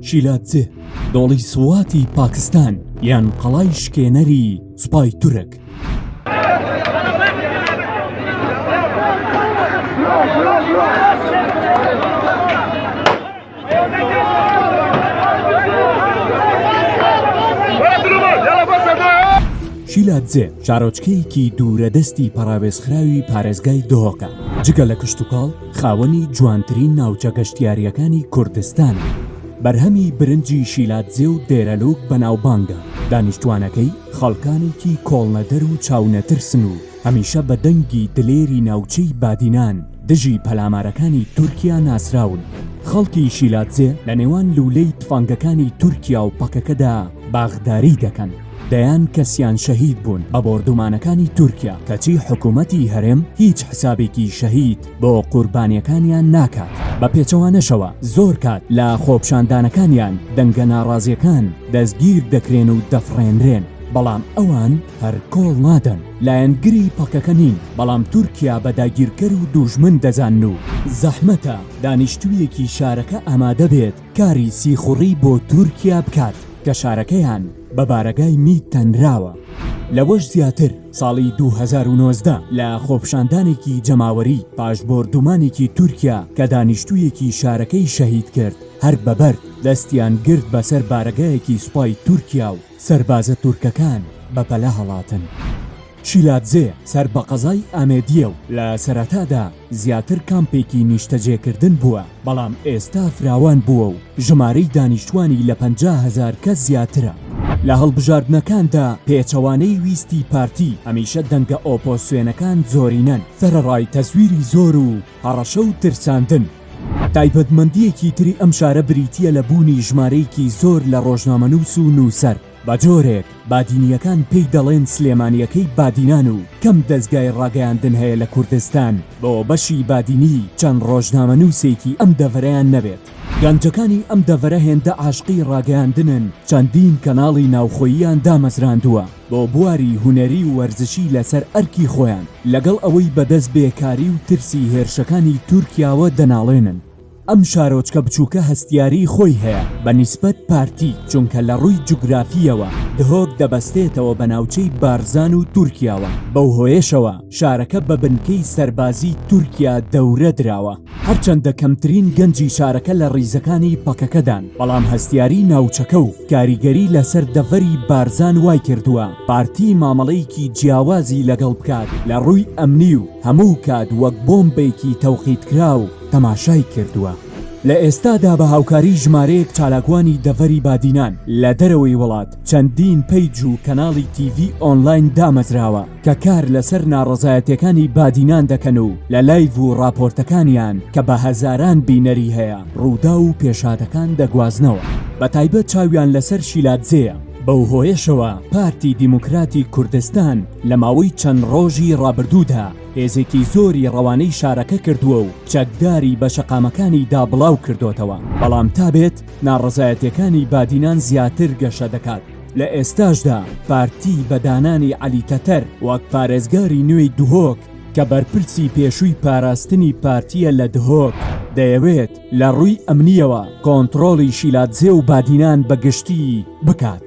شیلادزێ دۆڵی سواتی پاکستان یان قەڵای شکێنەری سوپای تورک. شیلادزێ شارۆچکەیەکی دوورە دەستی پەراوێزخراوی پارێزگای دۆکە جگە لە کشتتوکاڵ خاوەنی جوانترین ناوچە گەشتیارییەکانی کوردستانە، بەرهەمی برنجی شیلادزێ و دێرەلووک بەناوبانگە، دانیشتووانەکەی خەڵکانێکی کۆڵنەدەر و چاونەترسن و هەمیشە بە دەنگی دلێری ناوچەی بادینان دژی پەلامارەکانی تورکیا ناسراون، خەڵکی شیلادزێ لە نێوان لوولەی تفەنگەکانی تورکیا و پەکەکەدا باخداریی دەکەن. دەیان کەسیان شەهید بوون بە بۆردومانەکانی تورکیا، کەچی حکومەتی هەرێم هیچ حسابێکی شەهید بۆ قوربانیەکانیان ناکات، بە پێچەوانەشەوە زۆر کات لە خۆپشاندانەکانیان دەنگە ناڕازیەکان دەستگیر دەکرێن و دەفڕێنرێن، بەڵام ئەوان هەر کۆڵ نادەن، لایەنگری پەکەکە نین، بەڵام تورکیا بە داگیرکەر و دووژمن دەزانن و زەحمەتە دانیشتوویەکی شارەکە ئامادەبێت، کاری سیخوڕی بۆ تورکیا بکات کە شارەکەیان بە بارەگای میت تەنراوە. لەوەش زیاتر، ساڵی دوو هەزار و نۆزدە لە خۆپشاندانێکی جەماوەری پاش بۆردومانێکی تورکیا کە دانیشتوویەکی شارەکەی شەهید کرد، هەر بە بەرد دەستیان گرت بەسەر بارەگایەکی سوپای تورکیا و، سەربازە تورکەکان بە پەلە هەڵاتن. شیلادزێ سەر بە قەزای ئامێدییە و لە سەرەتادا زیاتر کامپێکی نیشتەجێکردن بووە، بەڵام ئێستا فراوان بووە و ژمارەی دانیشتووانی لە پەنجا هەزار کەس زیاترە. لە هەڵبژاردنەکاندا پێچەوانەی ویستی پارتی، هەمیشە دەنگە ئۆپۆسسیۆنەکان زۆرینەن، سەرەڕای تەزویری زۆر و، هەڕەشە و ترساندن، تایبەتمەندییەکی تری ئەم شارە بریتییە لە بوونی ژمارەیەکی زۆر لە ڕۆژنامەنووس و نووسەر، بە جۆرێک بادینییەکان پێی دەڵێن سلێمانییەکەی بادینان و کەم دەزگای ڕاگەیاندن هەیە لە کوردستان بۆ بەشی بادینی چەند ڕۆژنامەنووسێکی ئەم دەڤەرەیان نەبێت. گەنجەکانی ئەم دەڤەرە هێندە عاشقی ڕاگەیاندنن چەندین کەناڵی ناوخۆییان دامەزراندووە بۆ بواری هونەری و وەرزشی لەسەر ئەرکی خۆیان لەگەڵ ئەوەی بەدەست بێکاری و ترسی هێرشەکانی تورکیاوە دەناڵێنن ئەم شارۆچکە بچووکە هەستیاری خۆی هەیە بە نیسبەت پارتی چونکە لە ڕووی جوگرافییەوە دهۆک دەبەستێتەوە بە ناوچەی بارزان و تورکیاوە بەو هۆیەشەوە شارەکە بە بنکەی سەربازی تورکیا دەورە دراوە. هەرچەندە کەمترین گەنجی شارەکە لە ڕیزەکانی پەکەکەدان، بەڵام هەستیاری ناوچەکە و کاریگەری لەسەر دەڤەری بارزان وایکردووە پارتی مامەڵەیەکی جیاوازی لەگەڵ بکات لە ڕووی ئەمنی و هەموو کات وەک بۆمبێکی تەوقیتکراو تەماشای کردووە. لە ئێستادا بە هاوکاری ژمارەیەک چالاکوانی دەڤەری بادینان لە دەرەوەی وڵات، چەندین پەیج و کەناڵی تیڤی ئۆنلاین دامەزراوە، کە کار لەسەر ناڕەزایەتیەکانی بادینان دەکەن و لە لایڤ و ڕاپۆرتەکانیان کە بە هەزاران بینەری هەیە ڕووداو و پێشهاتەکان دەگوازنەوە بە تایبەت چاویان لەسەر شیلادزێیە، بەو هۆیەشەوە پارتی دیموکراتی کوردستان لە ماوەی چەند ڕۆژی ڕابردوودا هێزێکی زۆری ڕەوانەی شارەکە کردووە و چەکداری بە شەقامەکانی دا بڵاو کردۆتەوە بەڵام تا بێت ناڕەزایەتیەکانی بادینان زیاتر گەشە دەکات. لە ئێستاشدا پارتی بە دانانی عەلی تەتەر وەک پارێزگاری نوێی دهۆک کە بەرپرسی پێشووی پاراستنی پارتییە لە دهۆک، دەیەوێت لە ڕووی ئەمنییەوە کۆنتڕۆڵی شیلادزێ و بادینان بە گشتی بکات.